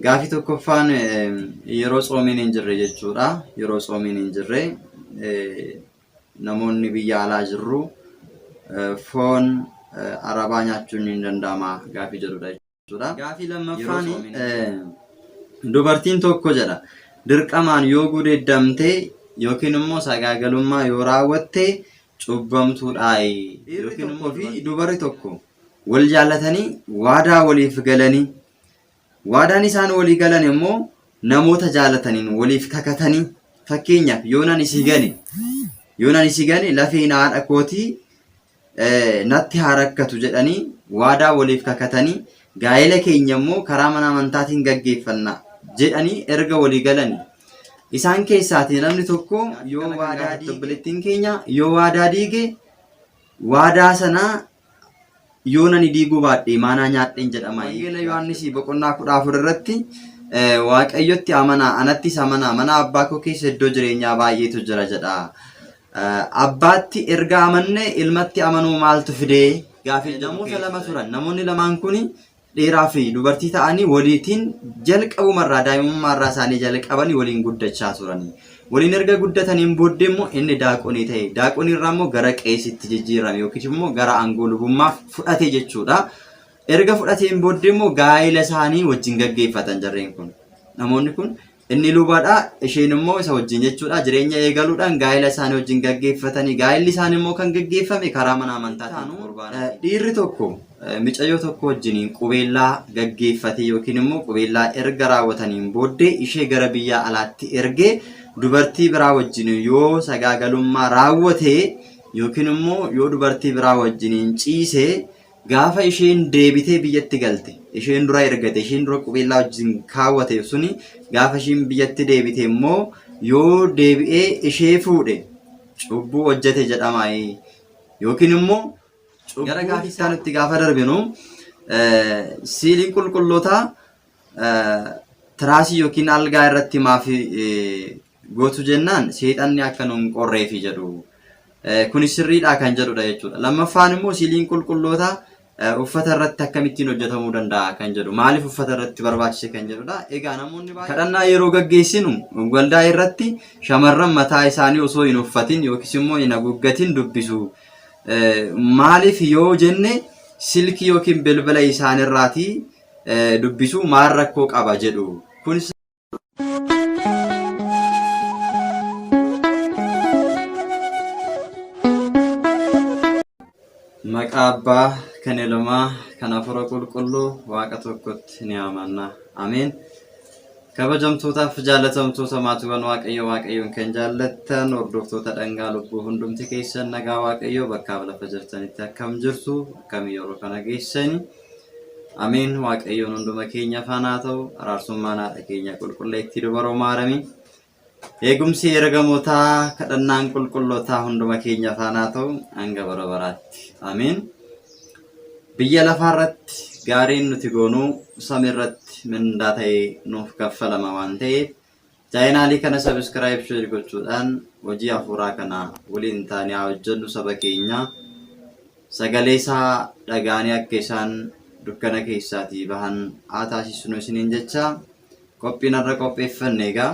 Gaafii tokkoffaan yeroo tsoomiin hin jirre jechuudha. Yeroo tsoomiin hin jirre namoonni biyya alaa jirru foon arabaa nyaachuun hin danda'ama gaafii jedhudha jechuudha. Gaafii lammaffaan dubartiin tokko jedha dirqamaan yoo gudeeddamte yookiin immoo sagaagalummaa yoo raawwatte cubbamtuudhaayi. Dhiirri tokko fi dubarri tokko wal jaallatanii waadaa waliif galanii Waadaan isaan walii galan immoo namoota jaalataniin waliif kakatanii fakkeenyaaf yoo nan isii gane yoo nan isii gane lafeen haadha kootii eh, natti haa rakkatu jedhanii waadaa waliif kakatanii gaa'ela keenya immoo karaa mana amantaatiin gaggeeffanna jedhanii erga walii galanii isaan keessaatii namni tokko yoo waadaa diige obboleettiin keenya yoo waadaa diige waadaa sanaa Yoon ani diiguu baadhe maanaa nyaadheen jedhama. Wangeela Yohaannisii boqonnaa kudha afur irratti Waaqayyotti amanaa anattis amanaa mana abbaa koo keessa iddoo jireenyaa baay'eetu jira jedha. Abbaatti erga amanne ilmatti amanuu maaltu fidee? Gaafii namoota lama turan. Namoonni lamaan kun dhiiraa fi dubartii ta'anii waliitiin jalqabumarraa daa'imummaarraa isaanii jalqabanii waliin guddachaa turanii. Waliin erga guddataniin booddee immoo inni daaqonii ta'e. Daaqoniirraa immoo gara qeesitti jijjiirame yookiis immoo gara aangoo lubummaa fudhate jechuudha. Erga fudhateen booddee immoo gaa'ila isaanii wajjin gaggeeffatan jarreen kun. Namoonni kun Inni lubadha, isheen immoo isa wajjin jechuudha. Jireenya eegaluudhaan gaa'ela isaanii wajjin gaggeeffatanii gaa'elli isaanii immoo kan gaggeeffame karaa mana amantaatiin qurbaana. Dhiirri tokko micayyoo tokko wajjiniin qubeellaa gaggeeffatee yookiin immoo qubeellaa erga raawwataniin booddee ishee gara biyyaa alaatti ergee dubartii biraa wajjin yoo sagaagalummaa raawwate yookiin immoo yoo dubartii biraa wajjiniin ciise Gaafa isheen deebitee biyyatti galte isheen dura ergate isheen dura qubeellaa wajjin kaawwateef suni gaafa isheen biyyatti deebite immoo yoo deebi'ee ishee fuudhe cubbuu hojjete jedhamaa'ee yookiin immoo gara gaafii isaa nutti gaafa darbinu siiliin qulqullootaa tiraasii yookiin algaa irratti maaf gootu jennaan seexanni akka nu hin qorreefi jedhu. Kuni sirriidhaa kan jedhudha jechuudha. Lammaffaan immoo siiliin qulqullootaa uffata irratti akkamittiin hojjetamuu danda'a kan jedhu. Maaliif uffata irratti barbaachise kan jedhudha. Egaa namoonni baay'ee kadhannaa yeroo gaggeessinu waldaa irratti shamarran mataa isaanii osoo hin uffatin yookiis immoo hin haguuggatin dubbisu. Maaliif yoo jenne silkii yookiin bilbila isaanirraatii dubbisu maal rakkoo qaba jedhu. Kunis Maqaa Abbaa kan Ilmaa kan Hafuura Qulqulluu Waaqa tokkotti ni amanna. Ameen. Kabajamtootaaf jaalatamtoota maatiiwwan Waaqayyo Waaqayyoon kan jaallattan hordoftoota dhangaa lubbuu hundumti keessan nagaa Waaqayyo bakkaaf lafa jirtanitti akkam jirtu akkam yeroo kana geessani. Ameen waaqayyoon hunduma keenya faana haa ta'u araarsummaan haadha keenya qulqulleettii dubaroo maaramii eegumsi ergamootaa kadhannaan qulqullootaa hunduma keenya faana haa ta'u hanga bara baraatti ameen biyya lafaa irratti gaariin nuti goonuu samii irratti mindaa ta'ee nuuf kaffalama waan ta'eef Chaayinaalii kana subscribe share gochuudhaan hojii hafuuraa kana waliin taanee haa hojjennu saba keenya sagalee isaa dhagaanii akka isaan dukkana keessaatii bahan haa taasisnu isiniin jecha qophiin irra qopheeffanne egaa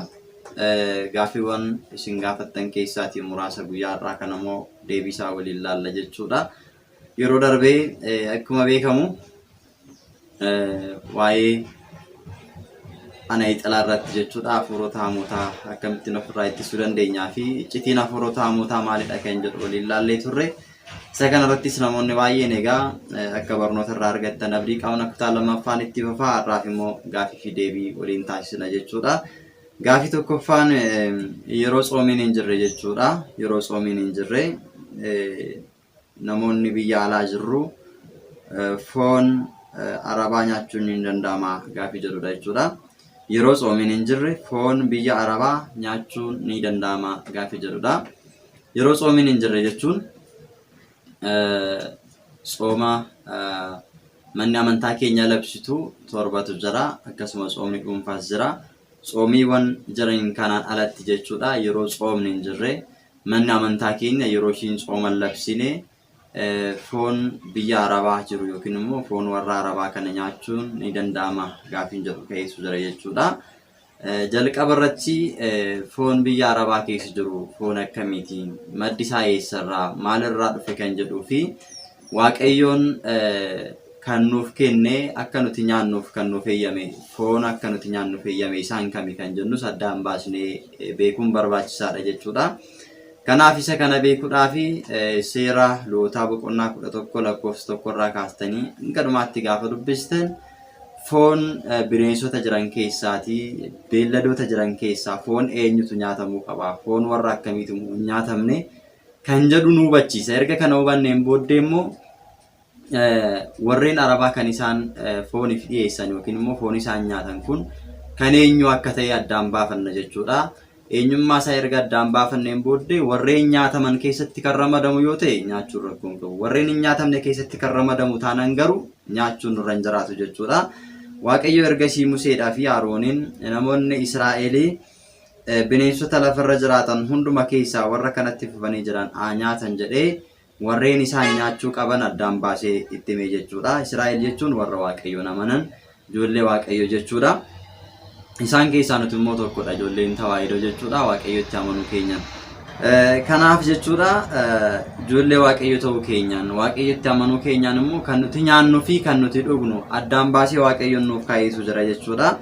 gaaffiiwwan isin gaafattan keessaatii muraasa guyyaa irraa kana immoo deebii isaa waliin laalla jechuudha. Yeroo darbee akkuma beekamu waa'ee ana ixalaa irratti jechuudha hafuurota hamootaa akkamittiin ofirraa ittisuu dandeenyaa fi iccitiin hafuurota hamootaa maalidha kan jedhu waliin laallee turre. Isa kanarrattis namoonni baay'een egaa akka barnoota irraa argattan abdii qabna kutaa lammaffaan itti fufaa har'aaf immoo gaafii fi deebii waliin taasisna jechuudha. Gaafii tokkoffaan yeroo tsoomiin hin jirre jechuudha. Yeroo tsoomiin hin jirre namoonni biyya alaa jirru foon arabaa nyaachuun ni danda'ama gaafii jedhudha jechuudha. Yeroo tsoomiin hin jirre foon biyya arabaa nyaachuun ni danda'ama gaafii jedhudha. Yeroo tsoomiin hin jirre jechuun tsooma manni amantaa keenya labsitu torbatu jira akkasuma tsoomni dhuunfaas jira. Tsoomiiwwan jiran kanaan alatti jechuudha yeroo tsoomni hin jirre Manni amantaa keenya yeroo ishiin tsooma hin labsine foon biyya Arabaa jiru yookiin immoo foon warra Arabaa kana nyaachuun ni danda'ama gaafiin jedhu ka'ee jira jechuudha. Jalqaba irratti foon biyya Arabaa keessa jiru foon akkamiitiin maddi isaa eessarraa maalirraa dhufe kan jedhuu fi Waaqayyoon kan nuuf kenne akka nuti nyaannuuf kan nuuf eeyyame foon akka nuti nyaannuuf eeyyame isaan kami kan jennus addaan baasnee eh, beekuun barbaachisaadha jechuudha. Kanaaf isa kana beekuudhaaf eh, seera lootaa boqonnaa kudha tokko lakkoofsa tokko irraa kaastanii hanga dhumaatti gaafa dubbistan foon eh, bineensota jiran keessaati beelladoota jiran keessaa foon eenyutu nyaatamuu qaba foon warra akkamiitu hin nyaatamne kan jedhu nu hubachiisa. Erga kana hubanneen booddee immoo warreen arabaa kan isaan fooniif dhiyeessan yookiin immoo foon isaan nyaatan kun kan eenyu akka ta'e addaan baafanna jechuudha. Eenyummaa isaa erga addaan baafanneen booddee warreen nyaataman keessatti kan ramadamu yoo ta'e nyaachuun rakkoo hin qabu. Warreen hin nyaatamne keessatti kan ramadamu taanaan garuu nyaachuun nurra hin jiraatu jechuudha. Waaqayyo ergasii Museedhaa fi Arooniin namoonni Israa'elii Bineensota lafa irra jiraatan hunduma keessaa warra kanatti fufanii jiran haa nyaatan jedhee warreen isaan nyaachuu qaban addaan baasee itti himee jechuudha. Israa'el jechuun warra Waaqayyoon amanan ijoollee Waaqayyo jechuudha. Isaan keessaa nuti immoo tokkodha ijoolleen tawaahidoo jechuudha Waaqayyotti amanuu keenyaan. Kanaaf jechuudha ijoollee Waaqayyo ta'uu keenyaan Waaqayyotti amanuu keenyaan immoo kan nuti nyaannuu fi kan nuti dhugnu addaan baasee Waaqayyoon nuuf kaa'eetu jira jechuudha.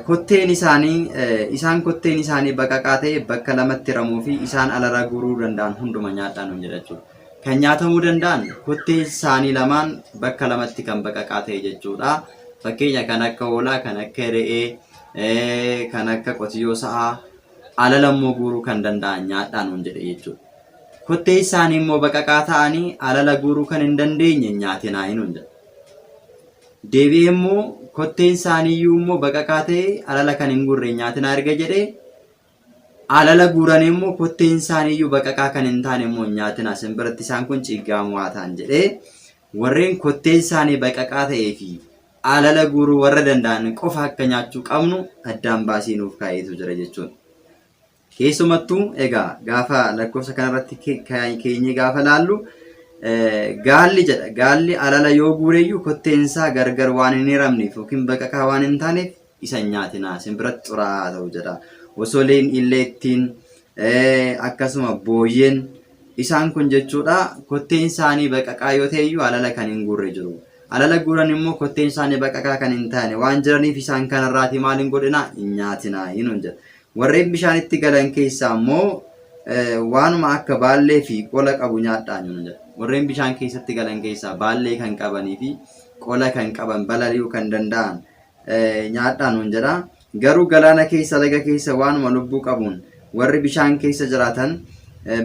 Kotteen isaanii isaan kotteen isaanii baqaqaa ta'e bakka lamatti ramuu fi isaan alaraa guuruu danda'an hunduma nyaadhaa nuun jedha jechuudha. Kan nyaatamuu danda'an kottee isaanii lamaan bakka lamatti kan baqaqaa ta'e jechuudha. Fakkeenya kan akka hoolaa, kan akka re'ee, kan akka qotiyyoo sa'aa alala immoo guuruu kan danda'an nyaadhaa nuun jedhe jechuudha. Kottee isaanii immoo baqaqaa ta'anii alala guuruu kan hin dandeenye nyaatinaa nuun jedha. Deebi'ee immoo kotteen isaanii iyyuu immoo baqaqaa ta'e alala kan hin guurre hin nyaatinaa erga jedhee alala guuranii immoo kotteen isaanii iyyuu baqaqaa kan hin taane immoo hin nyaatinaa sin biratti isaan kun ciiggaamoo haa ta'an jedhee warreen kotteen isaanii baqaqaa ta'ee fi alala guuruu warra danda'an qofa akka nyaachuu qabnu addaan baasii nuuf kaa'eetu jira jechuudha. Keessumattuu egaa gaafa lakkoofsa kanarratti keenyee gaafa laallu gaalli jedha. Gaalli alala yoo guureyyuu kotteen isaa gargar waan hin hiramneef yookiin baqaqaa waan hin taaneef isa hin nyaatinaa isin biratti xuraa'aa ta'u jedha. Osoleen illee ittiin akkasuma booyyeen isaan kun jechuudha kotteen isaanii baqaqaa yoo ta'eyyuu alala kan hin guurre jiru. Alala guuran immoo kotteen isaanii baqaqaa kan hin taane waan jiraniif isaan kanarraati maal hin godhinaa hin nyaatinaa hinuun jedha. Warreen bishaanitti galan keessaa immoo waanuma akka baallee fi qola qabu nyaadhaa nuna jedha. Warreen bishaan keessatti galan keessaa baallee kan qabanii fi qola kan qaban balali'uu kan danda'an nyaadhaa nuun jedha. Garuu galaana keessa laga keessa waanuma lubbuu qabuun warri bishaan keessa jiraatan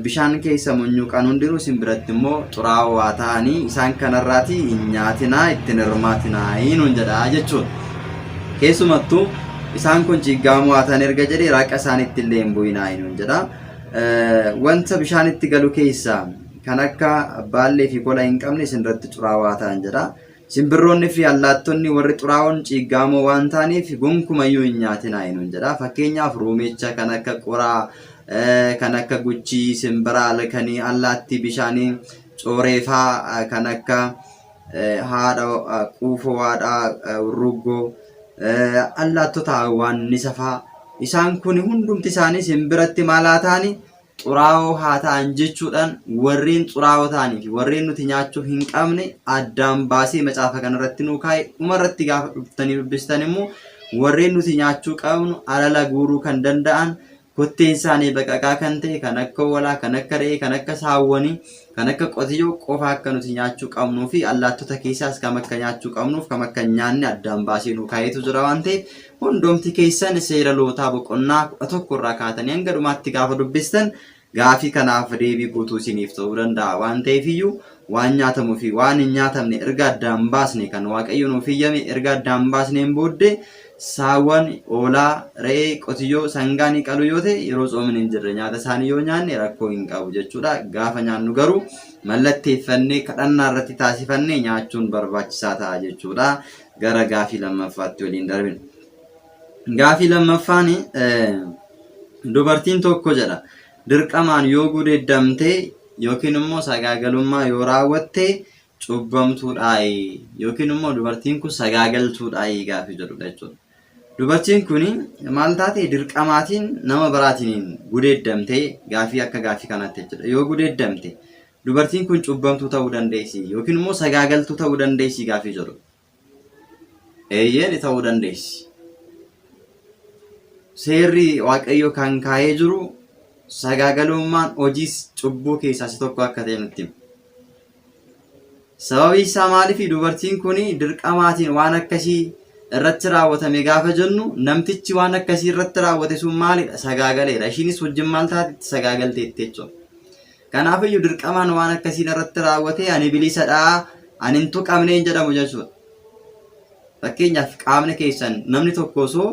Bishaan keessa munyuuqan hundinuu isin biratti immoo xuraa'oo haa ta'anii isaan kanarraatii hin nyaatinaa ittiin hirmaatinaa nuun jedhaa jechuudha. Keessumattuu isaan kun ciiggaamoo haa ta'an erga jedhee raaqa isaaniitti illee hin bu'inaa nuun jedha. Wanta bishaan itti galu keessaa kan akka baallee fi kola hin qabne isin irratti xuraa'oo haa ta'an jedha. Simbirroonni fi allaattonni warri xuraa'oon ciiggaamoo waan ta'aniif gonkumayyuu hin nyaatinaa hinuun jedha. Fakkeenyaaf ruumicha kan akka qoraa, kan akka guchii, simbira halkanii, allaattii bishaanii, cooreefaa kan akka haadha quufoo haadhaa urruggoo, allaattota hawaannisa faa isaan kun hundumti isaanii simbiratti maal haa ta'anii xuraa'oo haa ta'an jechuudhaan warreen xuraa'oo ta'anii fi warreen nuti nyaachuu hin qabne addaan baasee macaafa kanarratti nuu kaa'e dhumarratti gaafa dhuftanii dubbistan immoo warreen nuti nyaachuu qabnu alala guuruu kan danda'an kotteen isaanii baqaqaa kan ta'e kan akka hoolaa kan akka re'ee kan akka saawwanii Kan akka qotiyyoo qofa akka nuti nyaachuu qabnuu fi allaattota keessaas kam akka nyaachuu qabnuuf kam akka nyaanne addaan baasee nu kaayetu jira waan ta'eef hundoomti keessan seera lootaa boqonnaa kudha tokko irraa kaatanii hanga dhumaatti gaafa dubbistan gaafii kanaaf deebii guutuu isiniif ta'uu danda'a waan ta'eef iyyuu waan nyaatamuu fi waan hin nyaatamne erga addaan baasne kan waaqayyo nuuf hiyyame erga addaan baasneen booddee Saawwan, hoolaa, re'ee, qotiyyoo, sangaa ni qalu yoo ta'e yeroo tsoomni hin jirre nyaata isaanii yoo nyaanne rakkoo hin qabu jechuudha. Gaafa nyaannu garuu mallatteeffannee kadhannaa irratti taasifannee nyaachuun barbaachisaa ta'a jechuudha. Gara gaafii lammaffaatti waliin darbina. Gaafii lammaffaan dubartiin tokko jedha dirqamaan yoo gudeeddamte yookiin immoo sagaagalummaa yoo raawwatte cubbamtuudhaayi yookiin immoo dubartiin kun sagaagaltuudhaayi gaafii jedhudha jechuudha. Dubartiin kun maal taate dirqamaatiin nama biraatiin gudeeddamtee gaafii akka gaafii kanaatti jechuudha. Yoo gudeeddamte dubartiin kun cubbamtuu ta'uu dandeessi yookiin immoo sagaagaltuu ta'uu dandeessi gaafii jedhu. Eeyyee ni ta'uu dandeessi. Seerri Waaqayyoo kan kaa'ee jiru sagaagalummaan hojiis cubbuu keessaa isa tokko akka ta'e nutti hima. Sababii isaa maaliif dubartiin kun dirqamaatiin waan akkasii irratti raawwatame gaafa jennu namtichi waan akkasii irratti raawwate sun maalidha sagaagaleera. Ishiinis wajjin maal taatetti sagaagalteetti jechuudha. Kanaaf iyyuu dirqamaan waan akkasii narratti raawwatee ani bilisadha, ani hin tuqamne hin jedhamu jechuudha. Fakkeenyaaf qaamni keessan namni tokko osoo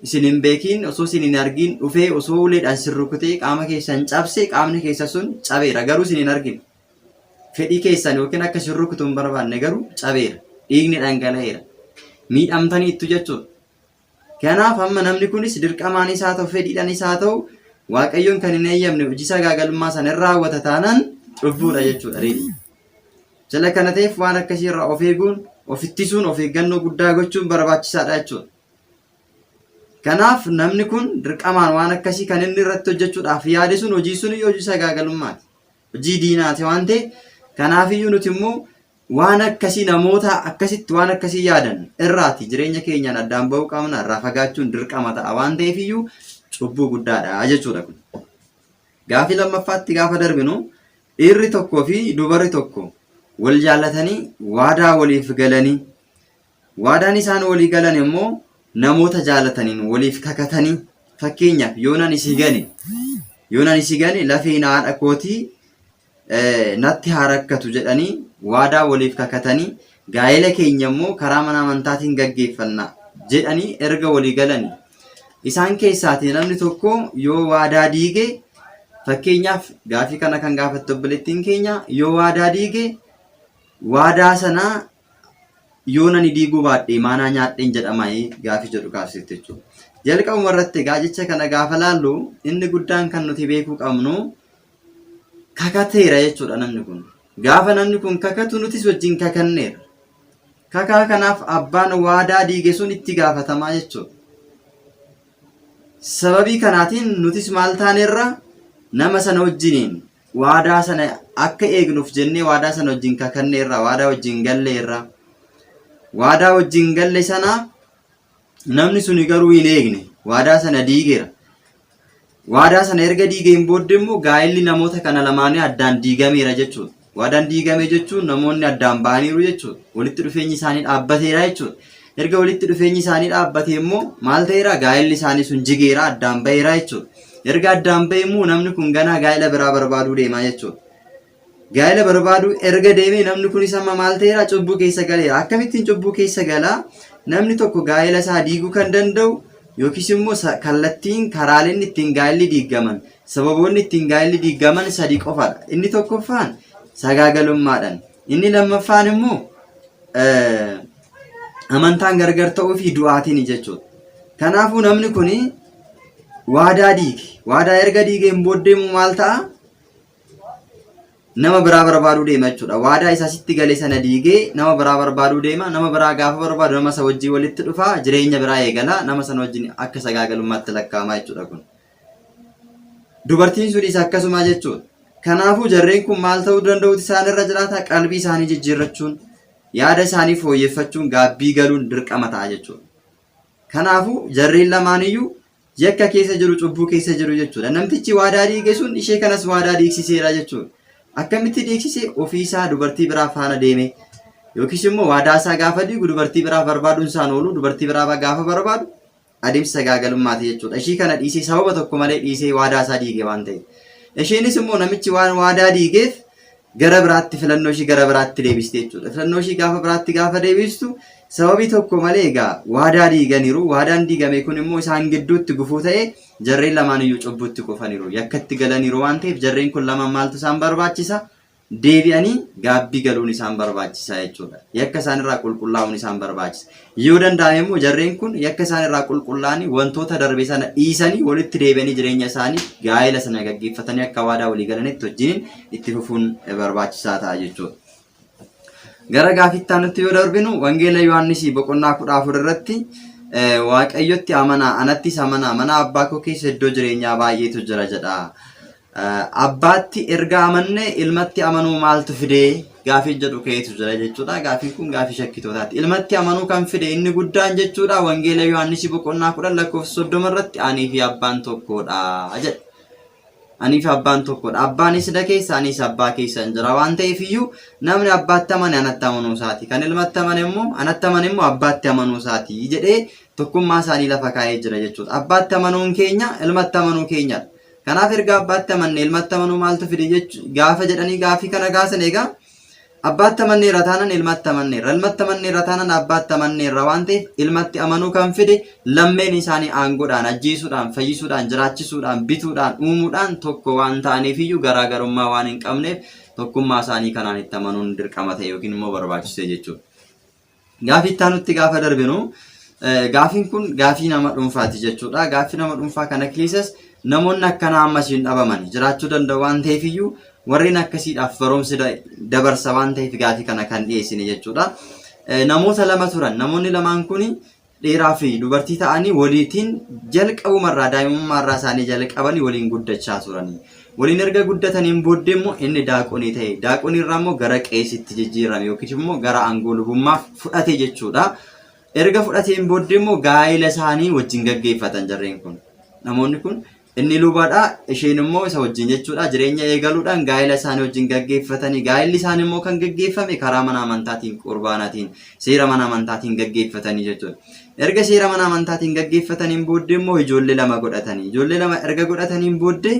isin hin beekiin osoo isin hin argiin dhufee osoo uleedhaan sin rukutee qaama keessan cabse qaamni keessa sun cabeera garuu isin hin argine. Fedhii keessan yookiin akka isin rukutu hin barbaanne garuu cabeera. Dhiigni dhangala'eera. Miidhamtaniittu jechuudha. Kanaaf amma namni kunis dirqamaanis haa ta'u fedhiidhanis haa ta'u waaqayyoon kan hin eeyyamne hojii sagaagalummaa sana irra raawwata taanaan cubbuudha jechuudha reedii. Jala kana ta'eef waan akkasii irraa of eeguun of ittisuun of eeggannoo guddaa gochuun barbaachisaadha jechuudha. Kanaaf namni kun dirqamaan waan akkasii kan inni irratti hojjechuudhaaf yaade sun hojii sun hojii sagaagalummaati. Hojii diinaati waan ta'e kanaafiyyuu nuti immoo waan akkasii namoota akkasitti waan akkasii yaadan irraati jireenya keenyaan addaan ba'uu qabna irraa fagaachuun dirqama ta'a waan ta'eefiyyuu cubbuu guddaadha jechuudha kun. Gaafii lammaffaatti gaafa darbinu dhiirri tokkoo fi dubarri tokko wal jaallatanii waadaa waliif galanii Waadaan isaan walii galan immoo namoota jaalataniin waliif kakatanii fakkeenyaaf yoon ani si gane yoon ani si gane lafeen haadha kootii eh, natti haa rakkatu jedhanii waadaa waliif kakatanii gaa'ela keenya immoo karaa mana amantaatiin gaggeeffanna jedhanii erga walii galanii isaan keessaatii namni tokko yoo waadaa diige fakkeenyaaf gaafii kana kan gaafatte obboleettiin keenya yoo waadaa diige waadaa sanaa Yoon ani diiguu baadhe maa naa nyaadheen jedhamaayii gaafii jedhu kaasifte jechuudha. Jalqabuma irratti egaa jecha kana gaafa laallu inni guddaan kan nuti beekuu qabnu kakateera jechuudha namni kun. Gaafa namni kun kakatu nutis wajjin kakanneera. Kakaa kanaaf abbaan waadaa diige sun itti gaafatamaa jechuudha. Sababii kanaatiin nutis maal taaneerra nama sana wajjiniin waadaa sana akka eegnuuf jennee waadaa sana wajjin kakanne irraa waadaa wajjin galle irraa waadaa wajjin galle sana namni suni garuu hin eegne waadaa sana diigeera waadaa sana erga diigeen booddee immoo gaa'elli namoota kana lamaanii addaan diigameera jechuudha waadaan diigame jechuun namoonni addaan ba'aniiru jechuudha walitti dhufeenyi isaanii dhaabbateera jechuudha Erga walitti dhufeenyi isaanii dhaabbatee immoo maal ta'eera? Gaa'elli isaanii sun jigeera, addaan ba'eera jechuudha. Erga addaan ba'e immoo namni kun ganaa gaa'ela biraa barbaaduu deema jechuudha. Gaa'ela barbaaduu erga deemee namni kunis amma maal ta'eera? Cubbuu keessa galeera. Akkamittiin cubbuu keessa galaa? Namni tokko gaa'ela isaa diiguu kan danda'u yookiis immoo kallattiin karaaleen ittiin gaa'elli diigaman sababoonni ittiin gaa'elli diigaman sadii qofadha. Inni tokkoffaan sagaagalummaadhaan. Inni lammaffaan immoo amantaan gargar ta'uu fi du'aatiin jechuudha. Kanaafuu namni kun waadaa diige. Waadaa erga diigeen booddee immoo maal ta'a? Nama biraa barbaaduu deema jechuudha. Waadaa isa sitti gale sana diigee nama biraa barbaaduu deema. Nama biraa gaafa barbaadu nama isa wajjin walitti dhufa. Jireenya biraa eegala. Nama sana wajjin akka sagaagalummaatti lakkaa'ama jechuudha kun. Dubartiin sunis akkasuma jechuudha. Kanaafuu jarreen kun maal ta'uu danda'uuti isaan irra jiraata? Qalbii isaanii jijjiirrachuun Yaada isaanii fooyyeffachuun gaabbii galuun dirqama ta'a jechuudha. Kanaafuu jarreen lamaaniyyuu yakka keessa jiru cubbuu keessa jiru jechuudha. Namtichi waadaa diige sun ishee kanas waadaa diigsiseera jechuudha. Akkamitti diigsise ofiisaa dubartii biraa faana deeme yookiis immoo waadaa isaa gaafa diigu dubartii biraa barbaaduun isaan oolu dubartii biraa gaafa barbaadu Adeemsa sagaagalummaati jechuudha. Ishii kana dhiisee sababa tokko malee dhiisee waadaa isaa diige waan ta'eef. Isheenis immoo namichi waan waadaa diigeef gara biraatti filannoo ishii gara biraatti deebiste jechuudha. Filannoo ishii gaafa biraatti gaafa deebistu sababii tokko malee egaa waadaa diiganiiru. Waadaan diigame kun immoo isaan gidduutti gufuu ta'ee jarreen lamaan iyyuu cubbuutti kufaniiru. Yakkatti galaniiru waan ta'eef jarreen kun lamaan maaltu isaan barbaachisa? deebi'anii gaabbii galuun isaan barbaachisa jechuudha. Yakka isaan irraa qulqullaa'uun isaan barbaachisa. Yoo danda'ame immoo jarreen kun yakka isaan irraa qulqullaa'anii wantoota darbe sana dhiisanii walitti deebi'anii jireenya isaanii gaa'ela sana gaggeeffatanii akka waadaa walii galanitti wajjiniin itti fufuun barbaachisaa ta'a jechuudha. Gara gaafittaa nutti yoo darbinu wangeela Yohaannisii boqonnaa kudha afur irratti eh, waaqayyotti amanaa anattis amanaa mana abbaa koo keessa iddoo jireenyaa baay'eetu jira jedha. Abbaatti erga amanne ilmatti amanuu maaltu fide gaafii jedhu ka'eetu jira jechuudha. Gaafiin kun gaafii shakkitootaati. Ilmatti amanuu kan fide inni guddaan jechuudha wangeela Yohaannisii boqonnaa kudhan lakkoofsa soddoma irratti anii fi abbaan tokkoodha jedha. Anii fi abbaan tokkoodha. Abbaan isna keessa anis abbaa keessa hin jira waan ta'eef iyyuu namni abbaatti amane anatti amanuu isaati. Kan ilmatti amane immoo anatti amane immoo abbaatti amanuu isaati jedhee tokkummaa isaanii lafa kaa'ee jira jechuudha. Abbaatti amanuun keenya ilmatti amanuu keenyadha. Kanaaf erga abbaatti amanne ilmatti amanuu maaltu fide jechu gaafa jedhanii gaafii kana gaasan egaa abbaatti amanneerra taanan ilmatti amanneerra ilmatti amanneerra taanan abbaatti amanneerra waan ta'eef ilmatti amanuu kan fide lammeen isaanii aangoodhaan ajjeesuudhaan fayyisuudhaan jiraachisuudhaan bituudhaan uumuudhaan tokko waan ta'aniif iyyuu garaagarummaa waan hin qabneef tokkummaa isaanii kanaan itti amanuun dirqama ta'e yookiin immoo barbaachisee jechuudha. Gaafii itti aanutti gaafa darbinu gaafiin kun gaafii nama dhuunfaati jechuudha. Gaafii nama dhuunfaa kana keessas namoonni akkanaa ammas hin dhabaman jiraachuu danda'u waan ta'eef iyyuu warreen akkasiidhaaf barumsi dabarsa waan ta'eef gaafii kana kan dhiyeessine jechuudha. Namoota lama turan namoonni lamaan kun dhiiraa fi dubartii ta'anii waliitiin jalqabumarraa daa'imummaarraa isaanii jalqabanii waliin guddachaa turanii. Waliin erga guddataniin booddee immoo inni daaqonii ta'e. Daaqoniirraa immoo gara qeesitti jijjiirame yookiis immoo gara aangoo lubummaa fudhate jechuudha. Erga fudhateen booddee immoo gaa'ila isaanii wajjin gaggeeffatan jarreen kun. Namoonni kun Inni lubadha, isheen immoo isa wajjin jechuudha. Jireenya eegaluudhaan gaa'ela isaanii wajjin gaggeeffatanii gaa'elli isaanii immoo kan gaggeeffame karaa mana amantaatiin qurbaanaatiin seera mana amantaatiin gaggeeffatanii jechuudha. Erga seera mana amantaatiin gaggeeffataniin booddee immoo ijoollee lama godhatanii ijoollee lama erga godhataniin booddee